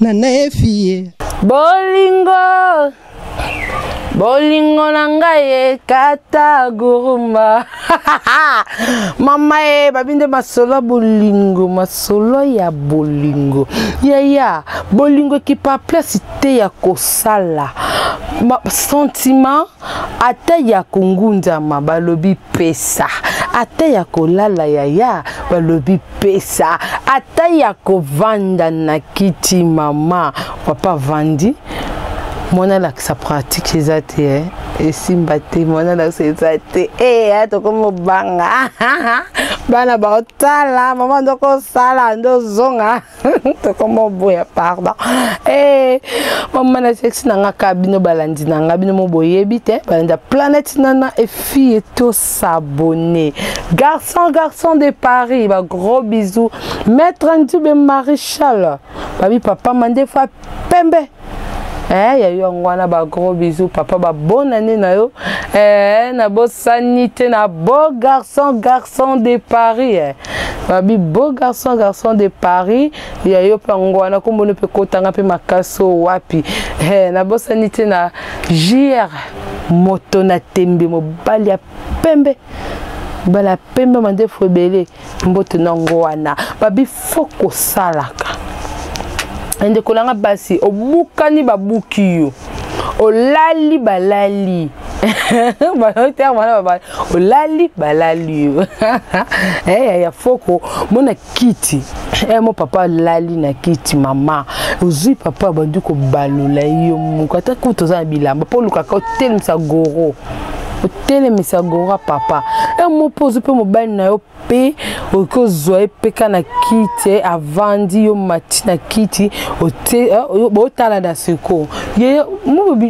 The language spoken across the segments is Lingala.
na naefie bolingo bolingo na ngai ekata guruma mama ye babi nde masolo ya bolingo masolo ya bolingo yaya bolingo ekipa place te ya kosala sentiment ata ya kongunzama balobi pesa ata ya kolala yaya balobi pesa ata ya kovanda na kiti mama papa vandi mwana alakisa pratique eza te eh? esimba te mwana alakisa eza te hey, eh, tokomobanga bana baotala mama ndokosala ndozonga tokoma oboya pardon eh, mama na sexe na nga kaka bino balandi na nga bino mo boyebi te balandi ya planète nana efille to s'abonner garçon garçon de paris ba gros bisous maître ndube maréchal babi papa mandefa pembe eh, ya yo yango wana bagros bisou papa babon année na yo eh, nabosani te na beau garçon garçon de paris eh. babi beau garçon garçon de paris ya yo mpe yango wana kombona mpe kotanga mpe makasi oyo wapi eh, nabosani te na jr moto na tembe mobali ya pembe mobali ya pembe mandefu ebele mbote na yango wana babi fo kosalaka ndeko na nga basi obukani babuki yo olali balali bater wana babali olali balali yo eh, ya foko mona kiti eh, mo papa alali na kiti mama ozwi papa abandi kobalola yo moko ata kutu oza na bilamba mpo olukaka otelemisa goro otelemisa gora papa e mo mpe ozwi mpe mobali na yo mpe okoki ozwa ye mpe ka na kiti eh, avandi yo mati na kiti eh, botalana seko ye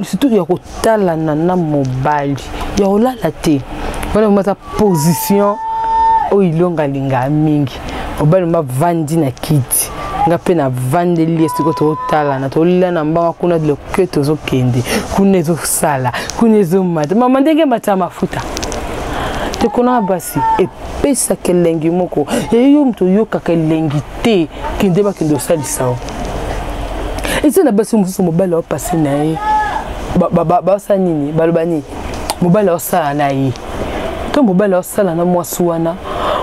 surtout ya kotalana na mobali ya kolala te wana position oyo ilonga alingaa mingi mobali mba vandi na kiti nga mpe navandeli ye sikoyo totalana tolia na mbanga kuna loke tozokende kuna ezosala kuna ezomata mama ndenge emata mafuta tekona basi epesaka elengi moko eyo moto oyokaka elengi te kende bakende osalisa o eza na basi mosusu mobali aopase na ye basala nini baloba nini mobali aosala na ye to mobali aosala na mwasi wana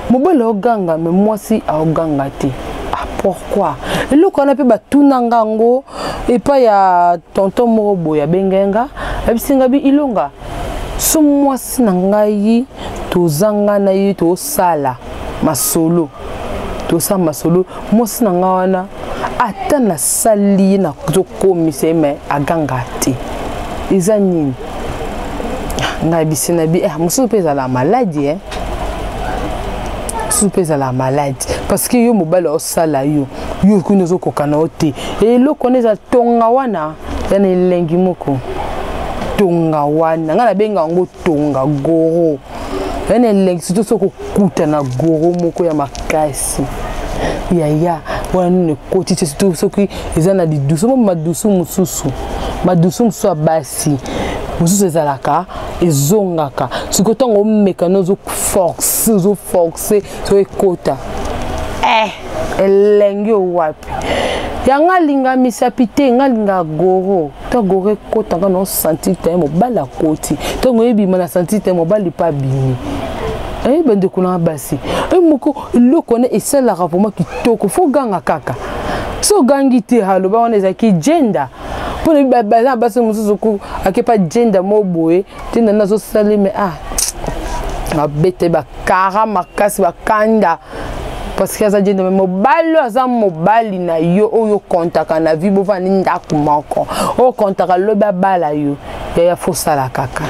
mobali aoganga me mwasi aoganga te ah, pourquoi eloko wana mpe batuna nga yango epai ya tonton moko boye abengaki nga ayebisi nga bi ilonga so mwasi na ngai tozanga na ye tosala masolo tosala masolo mwasi na ngai wana ata nasali ye nazokomisa ye me aganga te eza nini ngai bisi na bi eh, mosusu mpe ezala maladi eh. mosusu mpe ezala maladi parce que yo mobali osala yo yo okuni ozokoka na yo te eloko wana eza tonga wana ya na elengi moko tonga wana ngai nabenga yango tonga goro ya na elengi soki soki kokuta na goro moko ya makasi yaya wana nini ekoti te soki eza na lidusu mo madusu mosusu madusu mosusu ya basi si mosusu ezalaka ezongaka sikoyo ntango omeka na ozo force ozo force so ekota eh, elengi owapi yanga alinga misapi te nga alinga goro to goro ekota nga nao sentir te mobali akoti ntango ebima na sentir te mobali mpe abimi eh, bandeko na basi e moko eloko wana esalaka vraimen kitoko fo ganga kaka so ogangi te aloba wana ezalaki gender mpo nayebi baza na basi mosusu ku akepa jenda mo boye jenda nde azosali me ah babete bakara makasi bakanda parceke aza jenda me mobali oyo aza mobali na yo oyo okontaka na vie bovandi ndako moko oyo okontaka lobi abala yo yaya fosala kaka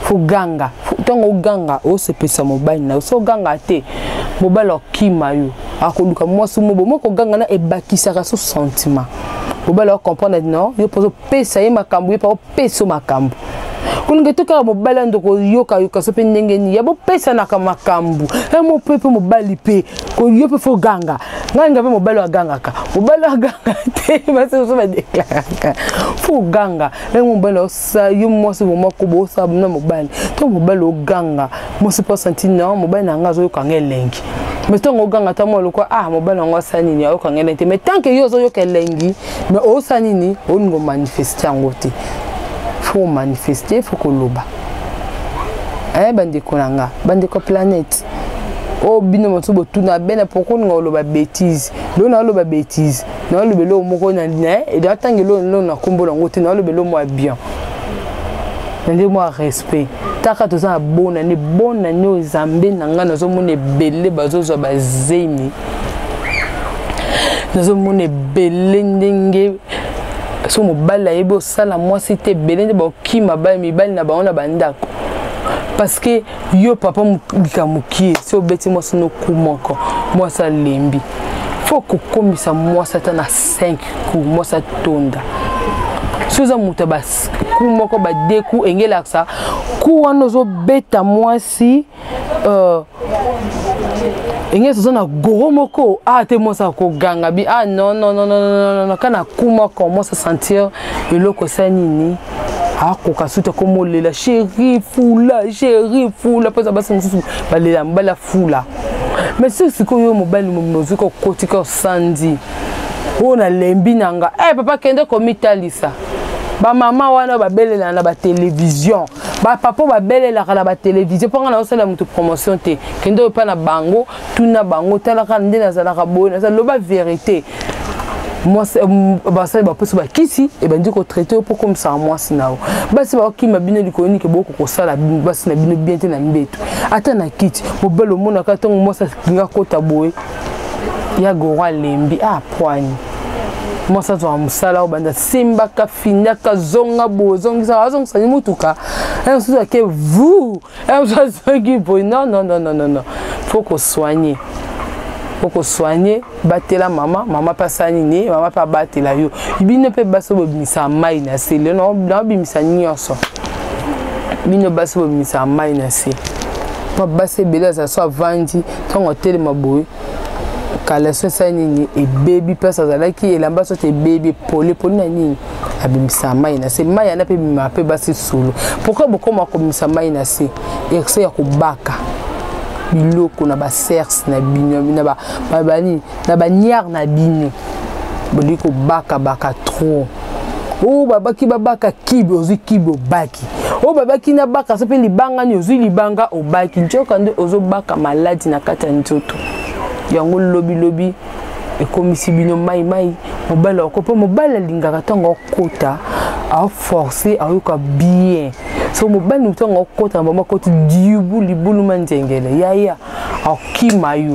foganga ntango oganga osepelisa mobali na yo so oganga te mobali akima yo akoluka mwasi mobo moko oganga na ebakisaka so sentiment mobali wa comprendre ati non yo mpo ozopesa ye makambo ye mpo opesa yo makambo kolonge to kaka mobali ya ndoko yokayoka so mpe ndenge nini ya bopesanaka makambo yango mpe mpe mobali mpe yo mpe fo ganga ngai nga mpe mobali agangaka mobali aganga te basi mosusu badeklaraka fo ganga yango mobali sa yo mwasi vraimen koba osala na mobali to mobali oganga mwasi mpo asanti na mobali na yango azoyoka nga elengi mais ntango oganga ata mwa lokwa ah mobali yango asala nini ayoka nga elengi te mais tant ke yo ozoyoka elengi mais osala nini olingi omanifeste yango te fo omanifeste fo koloba eh, bandeko na nga bandeko planète oyo oh, bino mosusu botuna bene poko olinga oloba bétise lona oloba bétise nalobela eloko moko na eda ntango eloko na nkombo nango te nalobela eloko mwa bien na nde mwa respect taka toza na bona nde bona nde oyo zambe na ngai nazomona ebele bazozwa bazemi nazomona ebele ndenge so mobali ayebi osala mwasi te ebele nde bakima mibali na bango na bandako parce que yo papa mobika mokie si obeti mwasi noku moko mwasi alembi fo kokomisa mwasi ata na 5 ku mwasi atonda soki oza moto ya baku moko badeku engelakisa ku wana ozobeta mwasi uh, engesi oza na goro moko a ah, te mwasi akoganga bi a ah, nonnnnn kana ku moko mwasi asentir eloko esa nini akoka suta koma olela sheri fula sheri fula mpoza basi mosusu balela mobali afula mais soki sikoyo mobali mozoki kokotika osandi oyo nalembi na nga e eh, hey, papa kende komitalisa bamama wana babelelana na batelevizio bapapa babelelaka na batelevizio mpo ngai naosala moto promotion te kende oyo mpa na bango tuna bango talaka nde nazalaka boye naza loba verité mwasi euh, basali baposo bakisi ebandi kotraite yo mpo komisaka mwasi na yo basi bakokima bino likolo nike boko kosala basi na bino bien te na mbeto ata na kiti mobali omonaka ntango mwasi alinga kota boye ya goro alembi apwani ah, mwasi azwaka mosala oyo banda simbaka findaka zonga boye ozongisaka azongisani motuka mosusu ake vu Eh, oza soki boye non non non non non faut ko soigner okosoigne batela mama mama mpe asala nini mama mpe abatela yo bino mpe basi bobimisa mai na se lelo naobimisa nyonso bino basi bobimisa mai na se mpo basi ebele aza so avandi ntango atelema boye kaleso esali nini ebebi place azalaki elamba soki ebebi epoli epoli na nini abimisa mai na se mai yana mpe ebimaka mpe basi solo pourkui bokoma kobimisa mai na se erse ya kobaka biloko na basers na bino na baniare na bino bolingi kobakabaka trop oyo babaki babaka kibi ozwi kibi obaki oyo babaki nabaka so mpe libanga ni ozwi libanga obaki ncoka nde ozobaka maladi na kati ya nzoto yango lobilobi ekomisi bino mai mai mobali oko mpo mobali alingaka ntango akota aforce ayoka bien so mobali ntango akota na bango akoti dibu libuluma nzengele yaya akima yo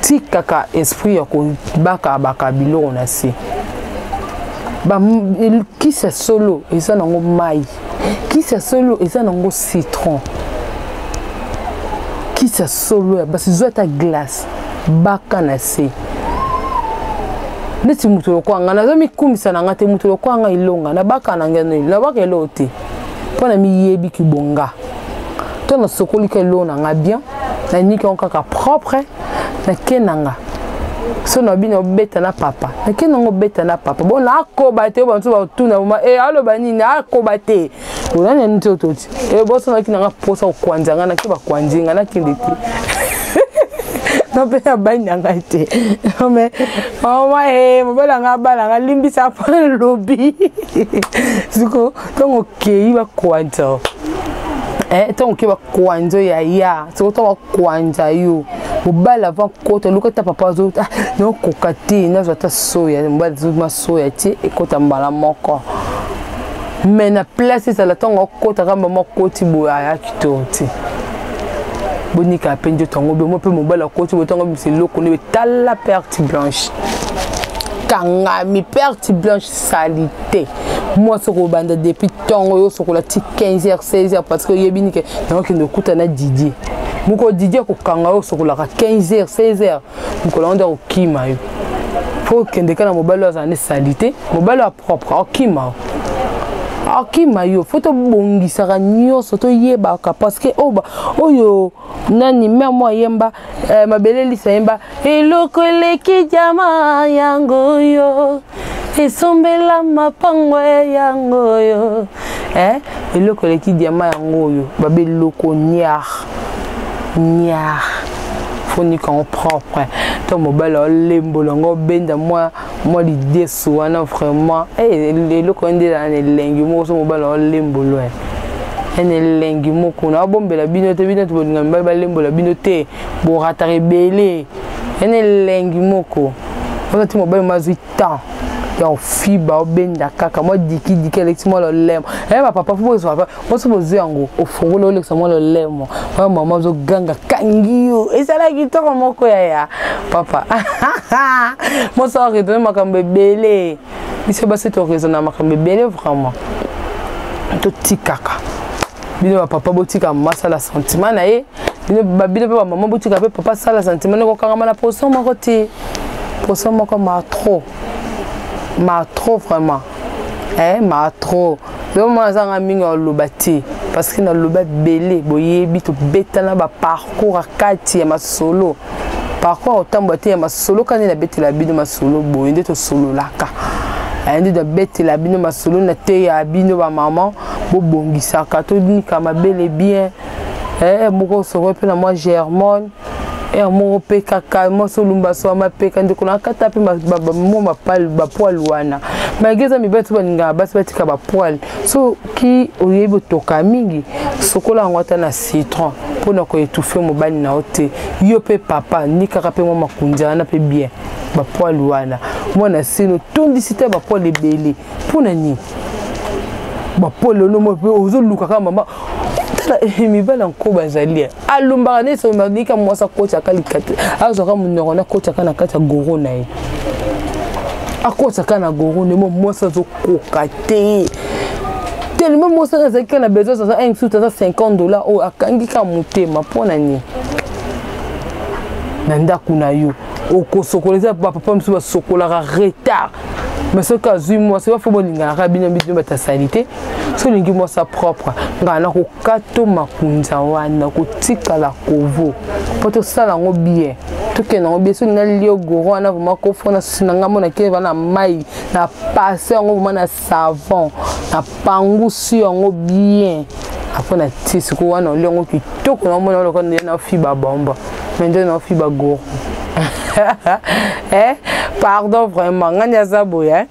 tikaka esprit ya kobaka baka biloko na se kisi ya solo eza nango mai kisi ya solo eza nango citron kisi ya solo ya basi zwa ata glace baka na se neti moto lokola ngai naza mikumisa na ngai te moto lokola ngai elonga nabaka na ngai nabaka eloko te mpo na miyebi kibonga to nasokoli ka eloo na nga bien naniki yango kaka propre nake na nga so na bino obeta na papa nake na yango obeta na papa bo nakoba te banso batuna ma e eh, aloba nini akoba te olani yango te ototi e eh, bosonaki na nga mposa kokwanza nga nake bakwanzi nga nakende te no mpe nabali na ngai te me mama e mobali na ngai abala ngai limbisa mpo lobi siko ntongo okei bakwanza eh, ntongo okei bakwanza ya ya soko ntongo bakwanza yo mobali avant kota oluka ata papa azo ah, naokoka te nazwa ata soya mobali azozuma soya te ekota mbala moko me na place ezala ntango akota kamba makoti boye ayaki to te bonika mpe nzoto yango bemo mpe mobali akoti boye ntango bimisa eloko nde betala perte blanche kangami perte blanche salite mwasi okobanda depuis ntongo yo osokola ti 15 heures 16 heures parce que oyebi nike yango kende okuta na didie mokolo didie akokanga yo osokolaka 15 heures 16 heures mokolo yango nde akokima yo mpo okendeka na mobali oyo azala nde salite mobali oyo apropre akima yo akima yo fo tobongisaka nyonso toyebaka parce que oyo nani mère mwa yemba eh, mabele lisa yemba eloko eleki jama yango yo esombela mapango yango yo eh, eloko eleki diama yango oyo babe eloko niar niar fonikango propre to mobali olembola ngo obenda mwa mwa lidesu wana vraiment eh, eloko nde ezala na elengi moko so mobali aolembolo eh. ene elengi moko na abombela bino te bino tobolinga mibali balembola bino te borataka ebele ene elengi moko wana ti mobali mazwi temps ya ofiba obenda kaka mwa dikidiki alekisi mwa lolemo eye eh, bapapa fo bozwa poso bozwi yango ofungoli olekisa mwa lolemo oyo mama ozoganga kangi yo ezala kitoko moko yaya papa mosa oredone makambo ebele biso basi toresona makambo ebele vraiment totikaka bino bapapa botika mama asala sentiment na ye bino mpe bamama botika mpe papa asala sentiment ekokangama na poso moko te poso moko ma trop ma trop vraiment eh ma trop yo mwana azanga mingi aloba te parce que naloba ebele boyebi tobetana baparcours ya kati ya masolo parcours kotambola te ya masolo kani nabetela bino masolo boye nde tosololaka eh, nde nabetela bino masolo na te ya bino bamama bobongisaka tonika mabele bien eh, moko sokoi mpe na mwa germone ya moko mpe kaka mwasi olumba soa mapeka ndeko na kata mpe mwa mapale bapoile wana malgre eza mibali so balingaka basi batika bapoile soki oyebi otoka mingi sokola yango ata na citron mpo na koetufe mobali na yo te yo mpe papa nikaka mpe mwa makunzi wana mpe bien bapoile wana mwana sino otondisi te bapoile ebele mpo na nini bapoile ono mpe ozoluka kaka mama tala eh, mibali yanko bazali eh. alumbaka nde somanika mwasi akotaka likati azwaka monoko na akotaka na kati ya goro na ye akotaka na goro na ye mo mwasi azokoka te telema mwasi aka azalaki kaka na besoin aza insulte aza 50 dollar oyo akangi kaka motema mpo na nini na ndako na yo okosokola eza bapapa mosusu basokolaka retard mais soki azwi mwasi bafo bolinganaka bino bino bata salite soki olingi mwasi ya propre ngaa nako kato makunza wana kotikala kovo mpo tosala yango bien tokende yango bien soki nalie ogoro wana vraimen kofo na susi na ngai mona kende va na mai na pase yango vraimen na savon na pangusi yango bien apres na tie sikoyo wana olie yango kitoko na omona lokola nde na fiba bomba me nde na fiba goro eh pardon vraiment ngai nde aza boye eh?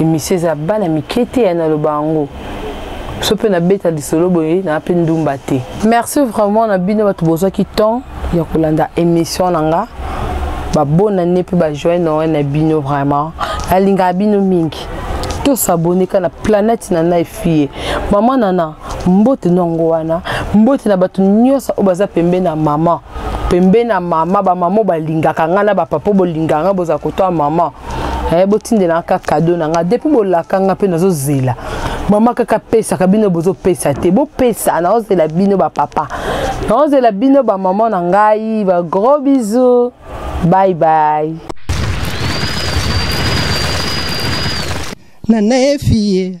emisio eza bana mike te ya naloba yango so mpe nabeta lisolo boye naa mpe ndumba te merci vraiment na bino bato bozwaki temps ya kolanda émission na nga babona ne mpe bajoye noel na bino vraiment nalingaka bino mingi tosabone ka na planète na nai fie mama nana mbote nongo wana mbote na bato nyonso oyo baza pembeni na mama pembeni na mama bamama oyo balingaka ngai na bapapa bolingaka ngai bozala kotoya mama eh, botindelanga kaka kado na nga depuis bolaka nga mpe nazozela mama kaka pesaka bino bozopesa te bopesa naozela bino bapapa naozela bino bamama na ngai bagros bisou bye bye nana efiye